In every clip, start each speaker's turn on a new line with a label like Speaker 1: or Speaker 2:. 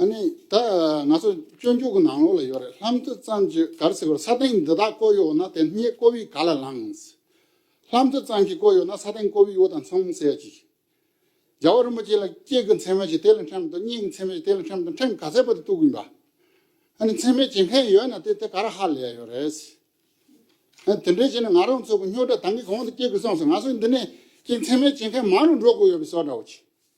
Speaker 1: ཨ་ནི་ད་ང་ཚོ་སྤྱོད་འཇུག་གི་ནང་ལོགས་ལ་ཡོད་རེད་ལྷམ་མཐུ་གཙང་ཆུ་གར་ཚིག་པར་ས་སྟེང་འདི་དག་བརྐོ་ཡོད་ན་དེ་སྙེད་བརྐོ་བའི་ག་ལ་ལངས། ལྷམ་མཐུ་གཙང་ཞིག་བརྐོ་ཡོད་ན་ས་སྟེང་བརྐོ་བའི་དབུ་དང་མཚམས་བསལ་ཅིག། རྒྱལ་བ་རིན་པོ་ཆེ་ལ་སྐྱེས་ཀྱི་མཚན་མ་ཞིག་དེ་ལ་འཕྲེང་དང་སྙིང་གི་མཚན་མ་ཞིག་དེ་ལ་འཕྲེང་དང་འཕྲེང་ག་ཚད་པ་དུ་གཏུགས་གིན་པ། ཨ་ནི་མཚན་མའི་བྱེད་མཁན་ཡོད་ན་དེ་དེ་ག་ར་ཧ་ལས་ཡོད་རེད། ཨ་ནི་དེ་འདྲའི་བྱས་ན་ང་རང་ཚོ་གི་སྨྱོ་སྒྲ་དང་གི་གོང་དུ་སྐྱེས་གི་སོང་ཟེར་ང་ཚོ་འདི་ནས་ཀྱི་མཚན་མའི་བྱེད་མཁན་མང་རུ་འགྲོ་དགོས་ཡོད་པའི་སོ་སྒྲ་བོ་ཆེ།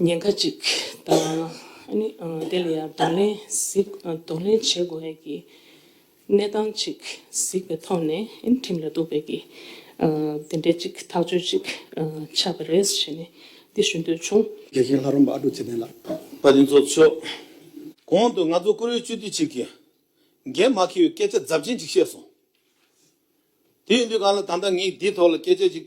Speaker 2: ཉེན་ཁ་ཅིག་དང། དེ་ལ་ཡང་གདོང་ལེན་བྱེད་དགོས་ངེས་ཀྱི་གནས་སྟངས་ཅིག་གཟིགས་པའི་ཐོག་ནས་ཁྲིམས་ལ་གཏུགས་པའི་གི་དེ་འདྲའི་ཅིག་ཐག་གཅོད་ཅིག་ཆགས་པ་རེད་ཞེས་ནས་འདི་ཞུ་འདོད་བྱུང། དགེ་རྒན་ལྷ་རོང་པ་ཨ་ཀྲུག་
Speaker 1: ཚེ་བརྟན་ལགས། པ་དེ་ཚོ་མཆོག།
Speaker 3: གོང་དུ་ང་ཚོ་བཀུར་འོས་སྤྱི་འཐུས་ཅིག་གིས། འགན་མ་འཁྱེར་བའི་སྐད་ཆ་རྫབ་ཆེན་ཅིག་བཤད་སོང། དེ་ཡིན་དུས་གང་ལ་ད་ལྟ་ངས་འདིའི་ཐོག་ལ་སྐད་ཆ་ཅིག་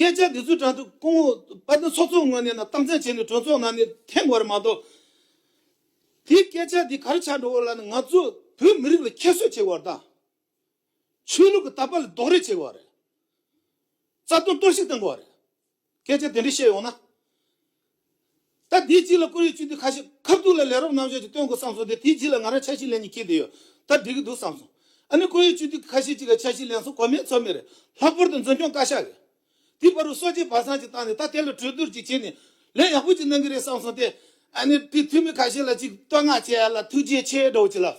Speaker 3: སྐད་ཆ་འདི་ཚོ་དྲ་ཚོགས་སྐོང་འོག་དཔལ་ལྡན་ཚོགས་གཙོ་ངོས་ནས་ནང་སྟངས་བཙན་བྱས་ནས་གྲོས་ཚོགས་ནང་ནས་ཐེངས་བར་མ་གཏོགས། དེའི་སྐད་ཆ་འདི་གར་ཆགས་འགྲོ་བ་ལ་ནི་ང་ཚོ་བོད་མི་རིགས་ལ་ཁྱད་གསོད་བྱེད་བར་དང། ཆོས་ལུགས་ཀྱི་དར་པ་ལ་རྡོག་རེག་བྱེད་བར་རེད། རྩ་དོན་གཏོར་བཤིག་བཏང་བར་རེད། སྐད་ཆ་དེ་འདྲ་བཤད་ཡོང་ན། ད་དེའི་རྗེས་ལ་ཀུ་རེ་གཅུན་དུས་ཁ་ཤས་ཁབ་ཐུག་ལ་ལས་རོགས་རྣམ་གཞག་ཅིག་སྟོན་དགོས་བསམ་སོང་སྟེ་དེའི་རྗེས་ལ་ང་རང་ཆ་ཤས་ལེན་གྱི་ཁེལ་དེ་ཡོད་ད་འགྲིག་གི་འདུག་བསམ་སོང། ཨ་ནི་ཀུ་རེ་གཅུན་དུས་ཁ་ཤས་ཅིག་ལ་ཆ་ཤས་ལེན་སོང་གོ་མེད་ཚོར་མེད་རེད་ལྷག་པར་དུ་འཛིན་སྐྱོང་བཀའ་ཤག་གིས། དེའི་བར་རུ་སོ་བརྗེ་བར་སངས་ཅིག་བཏང་ནས་ད་དེ་ལ་གྲོས་བསྡུར་ཅིག་བྱས་ནས་ལས་ཡག་པོ་ཅིག་གནང་གི་རེད་བསམ་སོང་སྟེ། ཨ་ནི་དེའི་འཐུས་མི་ཁ་ཤས་ལ་ཅིག་བསྟོད་བསྔགས་བྱས་ཡ་ལ་ཐུགས་རྗེ་ཆེ་སྒྲོག་ཅིག་ལབ།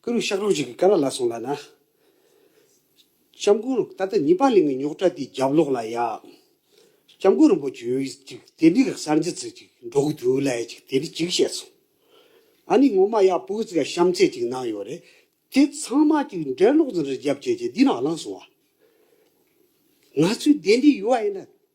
Speaker 4: སྐུ་རུ་ཤག་རོགས་ཞིག་གི་ཀ་ར་ལ་སོང་ལ་ན། སྐྱབས་མགོན་ད་ལྟ་ཉི་པ་གླིང་གི་ཉོག་དྲ་དེའི་རྒྱབ་ལོག་ལ་ཡག། སྐྱབས་མགོན་རིན་པོ་ཆེ་འོས་ཅིག་དེ་འདྲི་ག་གསར་འགྱུར་ཚིག་ཅིག་འགྲོ་གི་འདུག་ལ་ཡ་ཅིག་དེ་འདྲི་ཅིག་བཤད་སོང། ཨ་ནི་ངོ་མ་ཡག་པོ་གི་ཚིག་ག་གཤམ་གསལ་ཅིག་གནང་ཡོད་རེད་དེ་ཚང་མ་ཅིག་འགྲེལ་ལོག་ཟིན་རེད་རྒྱབ་བྱས་བྱས་འདི་ནང་བླངས་སོང་བ། ང་ཚོའི་བདེན་འདྲི་ཡུ་བ་ཡིན་ན་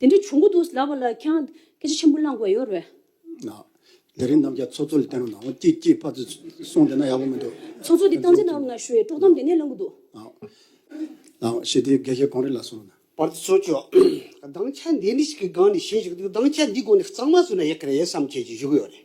Speaker 5: དེ་འདྲ་བྱུང་གི་འདུག་ཟླ་བ་ལགས་ཁྱེད་སྐད་ཆ་ཆེན་པོ་གླང་དགོས་ཡོད་རེད།
Speaker 1: དེ་རིང་རྣམ་རྒྱལ་ཚོགས་གཙོ་ལ་བསྟན་རོགས་གནང་རོགས་སྐྱིད་སྐྱིད་ཕར་ཚུར་གསུངས་བསྡད་ན་ཡག་པོ་མི་འདུག། ཚོགས་གཙོ་དེ་བཏང་འཛིན་གནང་
Speaker 5: རོགས་གནང་ཞུ་ཡས་དཀྲོག་གཏམ་དེ་ནས་གླང་གི་འདུག།
Speaker 1: ལགས་ཞེ་དེའི་དགེ་ཞེ་གང་རེད་ལ་སོང། པར་དུ་ཚོགས་གཙོ།
Speaker 4: གདངས་ཆ་འདི་འདྲ་ཞིག་གི་སྒང་ནས་བཤད་བཞིན་འདུག་གདངས་ཆ་འདི་སྒོ་ནས་གཙང་མ་བཟོས་ན་ཡག་གི་རེད་བསམ་ཁྱེད་ཀྱིས་བཞུགས་ཡོད་རེད།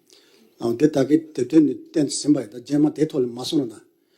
Speaker 1: འདི་ལྟ་
Speaker 6: བུའི་དེབ་
Speaker 1: ཐེར་ནི་
Speaker 6: བསྟན་ཟིན་པ་ཡིན་ད་
Speaker 1: རྗེས་
Speaker 6: མ་དེའི་ཐོག་
Speaker 1: ལ་མ་
Speaker 6: གསུངས་ན